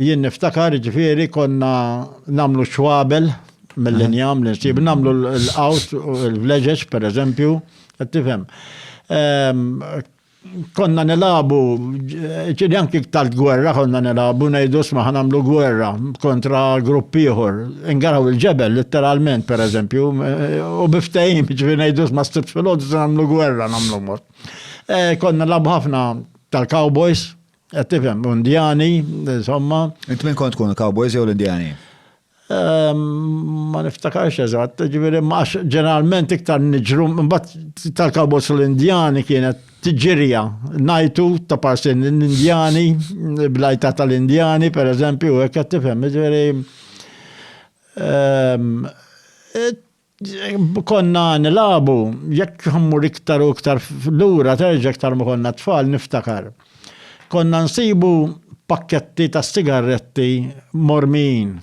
Jien niftakar, ġifieri konna nagħmlu xwabel mill-injam li nsib, nagħmlu l-qawt, il-vleġeġ pereżempju, qed tifhem. Ehm, Konna nilabu, ġieli anki tal-gwerra konna nilabu, ngħidu sma ħa nagħmlu gwerra kontra grupp ieħor. Ingaraw il-ġebel letteralment pereżempju, u biftehim ġieli ngħidu sma s-sibt filgħodu se nagħmlu gwerra nagħmlu mod. Eh, Konna nilagħbu ħafna tal-cowboys, Qed tifhem, Indjani, insomma. Int min kont tkun il-Cowboys jew l-Indjani? Ehm, ma niftakarx eżatt, ġifieri max ġeneralment iktar niġru mbagħad tal-Cowboys u l-Indjani kienet tiġirja najtu ta' parsin l-Indjani, blajta tal-Indjani, per eżempju, hekk qed tifhem, ġifieri ehm, Konna nilagħbu, jekk ħammur iktar u iktar lura terġa' iktar ma konna tfal niftakar. Konna nsibu pakketti ta' sigarretti mormijin.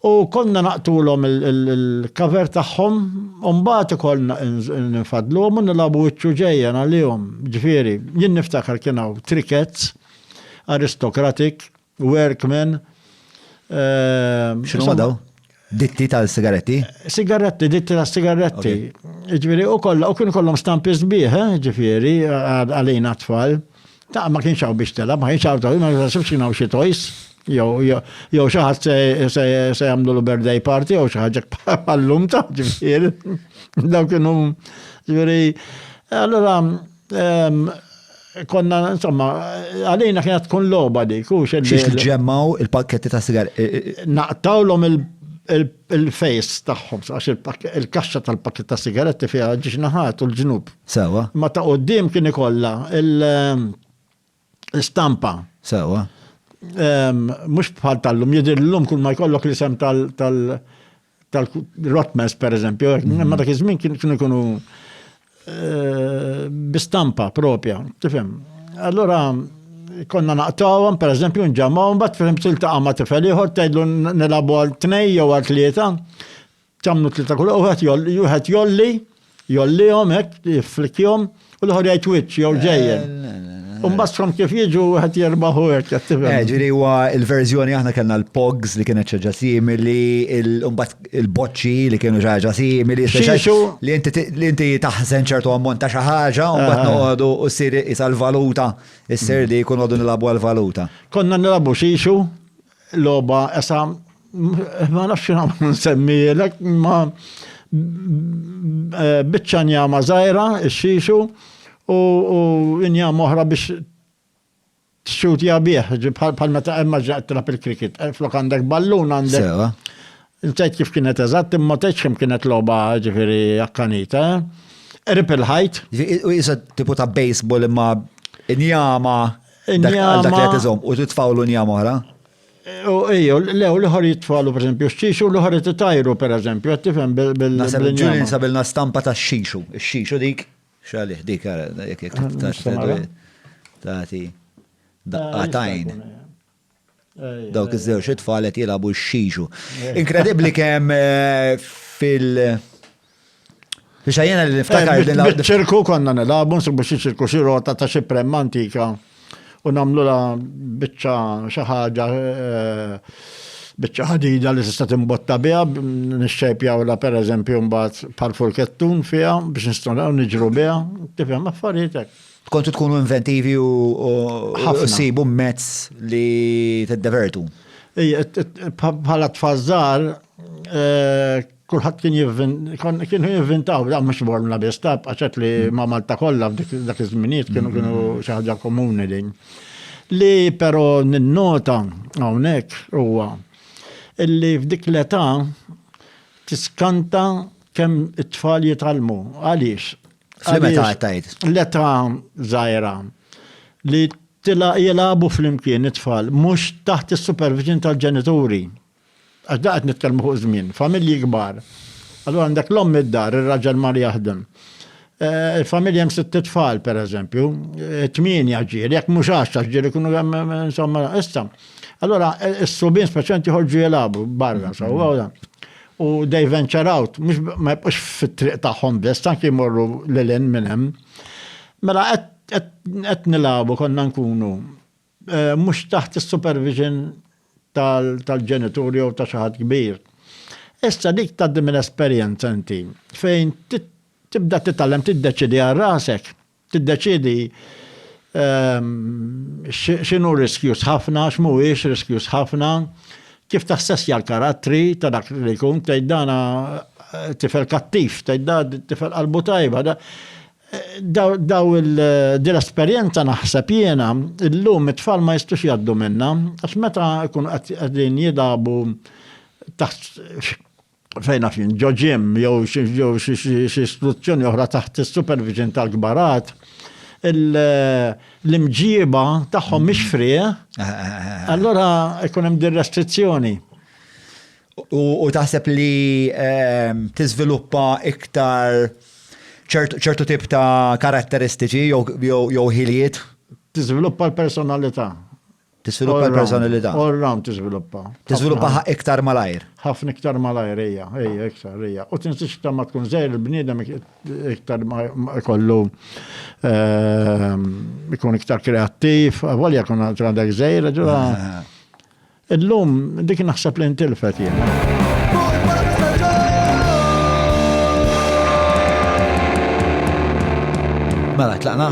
U konna naqtulhom il-cover tagħhom u mbagħad ikollna nfaddluhom u nilagħbu wiċċ u ġejjen għalihom. Ġifieri, jien niftakar kien hawn trickets, aristocratic, Workman. X'inhuma daw? Ditti tal-sigaretti? Sigaretti, ditti tal-sigaretti. Ġifieri u kollha u kienu kollhom stampi sbieħ, eh, ġifieri għalina tfal. Ta' ma kienx hawn biex telab, ma kienx hawn ta' ma nasibx kien hawn xi toys. Jew xi ħadd se jagħmlu l birthday party jew xi ħaġa bħal-lum ta' ġifieri. Daw kienu ġifieri. Allura Konna, insomma, għalina kienet tkun loba dik, u xed. Xiex nġemmaw il-pakketti ta' sigar. Naqtawlhom il-fejs tagħhom, għax il-kaxxa tal-pakket ta' sigaretti fiha ġiex naħat u l-ġnub. Sewa. Ma ta' qoddim kien ikollha il- stampa. Sewa. Mhux bħal tal-lum, jidhir l-lum kull ma jkollok l-isem tal-Rotmans pereżempju, mhm. ma dak iż-żmien kienu jkunu eh, bi stampa propja, tifhem. Allora konna naqtawhom pereżempju nġamgħu mbagħad fil-imsil ta' ma tifel ieħor tgħidlu nilagħbu għal tnej jew għal tlieta Tagħmlu tlieta kull wieħed jolli, wieħed jolli, jollihom hekk, jifflikkihom, u l-ħor jgħid wiċċ jew ġejjen. U mbagħad kif jiġu wieħed jerbaħu hekk qed tifhem. Eh, ġifieri huwa l-verżjoni aħna kellna l-pogs li kienet ċaġa simili, mbagħad il-boċċi li kienu ċaġa simili, li inti taħżen ċertu ammont ta' xi ħaġa, u mbagħad eh, eh. noqogħdu u ssir isa l-valuta, issir li jkun għodu nilabu għal-valuta. Konna nilabu xixu, Logħba esa ma nafx nagħmlu nsemmielek ma eh, biċċa njama żgħira xixu u njama oħra biex txutja bih, bħal meta emma ġaqt trap il-krikit, eh, flok għandek ballun għandek. Nsejt kif kienet eżatt, imma tgħidx kemm kienet logħba ġifieri akkanita. Eh? Rip il-ħajt. U jisa tipu ta' baseball imma injama. Dak għal dak li qed iżomm u titfawlu njam oħra. U ejjew, lew l-ħor jitfalu per esempio xixu l-ħor jitajru per esempio, qed tifhem bil Nasab ġulin sabilna stampa ta' xixu, xixu dik, xalih dik ara, jekk jekk tagħti daqqatajn. Dawk iż-żewġ it-tfal qed jilagħbu x-xiġu. Inkredibbli kemm eh, fil- Biex għajjena li niftakar din l ċirku konna nilabu, nsibu xi ċirku xi rota ta' xi prem antika u namlu la bicċa xi ħaġa eh, bicċa ħadida li tista' timbotta biha nixxejpjaw la pereżempju mbagħad parful kettun fiha biex nistgħu niġru biha, tifhem affarijiet hekk. Kontu tkunu inventivi u ssibu mezz li t-divertu. Bħala tfazzar, eh, kullħat kien jivvin, kienu jivvintaw, da mux borna biss, ta' għaxet li ma' Malta kollha dak iż-żminijiet kienu kienu xi ħaġa komuni din. Li però ninnota hawnhekk huwa illi f'dik l-età tiskanta kemm it-tfal jitalmu. Għaliex? Fl-meta għattajt? L-età zaħira li tila jilabu fl-imkien it-tfal, mux taħt il-supervision tal-ġenituri. Għax daqt nitkelmu fuq żmien, familji kbar. Allora għandek l-om id-dar, il-raġel mar jaħdem. Eh, il-familja jem sitt tfal, per eżempju, eh, tminja ġieli, jek mux għaxta ġieli kunu għem, eh, insomma, issa. Allora, il-subin speċenti ħorġu jilabu barra, sa' u they venture out, mhux ma jibqgħux fit-triq tagħhom biss, anki jmorru lil hinn minn hemm. Mela qed nilagħbu konna nkunu mhux taħt is-supervision tal-ġenitur jew ta' xi ħadd kbir. Issa dik tgħaddi minn esperjenza inti fejn tibda titgħallem tiddeċiedi għal rasek. Tiddeċiedi x'inhu riskjuż ħafna, x'mhuwiex riskjuż ħafna, kif tassessja l-karattri ta' dak li jkun, tgħid dan tifel kattiv, tgħid dan tifel qalbu tajba. Din l-esperjenza naħseb jiena llum it-tfal ma jistgħux jgħaddu minnha għax meta jkunu qegħdin jilagħbu taħt fejn naf jien, ġo ġim jew xi istituzzjoni oħra taħt is-supervision tal-kbar għad, l-imġiba tagħhom mhix fri, eh? Eh, eh, allura ikun hemm din restrizzjoni. U taħseb li ehm, tiżviluppa iktar ċertu tip ta' karatteristiċi jew ħiliet? Tiżviluppa l-personalità. Tiżviluppa l-personalità. All round tiżviluppa. Tiżviluppaha iktar malajr. Ħafna iktar malajr hija, hija iktar hija. U tinsiex iktar ma tkun żejr il-bniedem iktar ma jkollu ehm, ikun iktar kreattiv, volja kun għandek żejr, ġura. Illum dik naħseb li ntilfet jiena. Mela, tlaqna?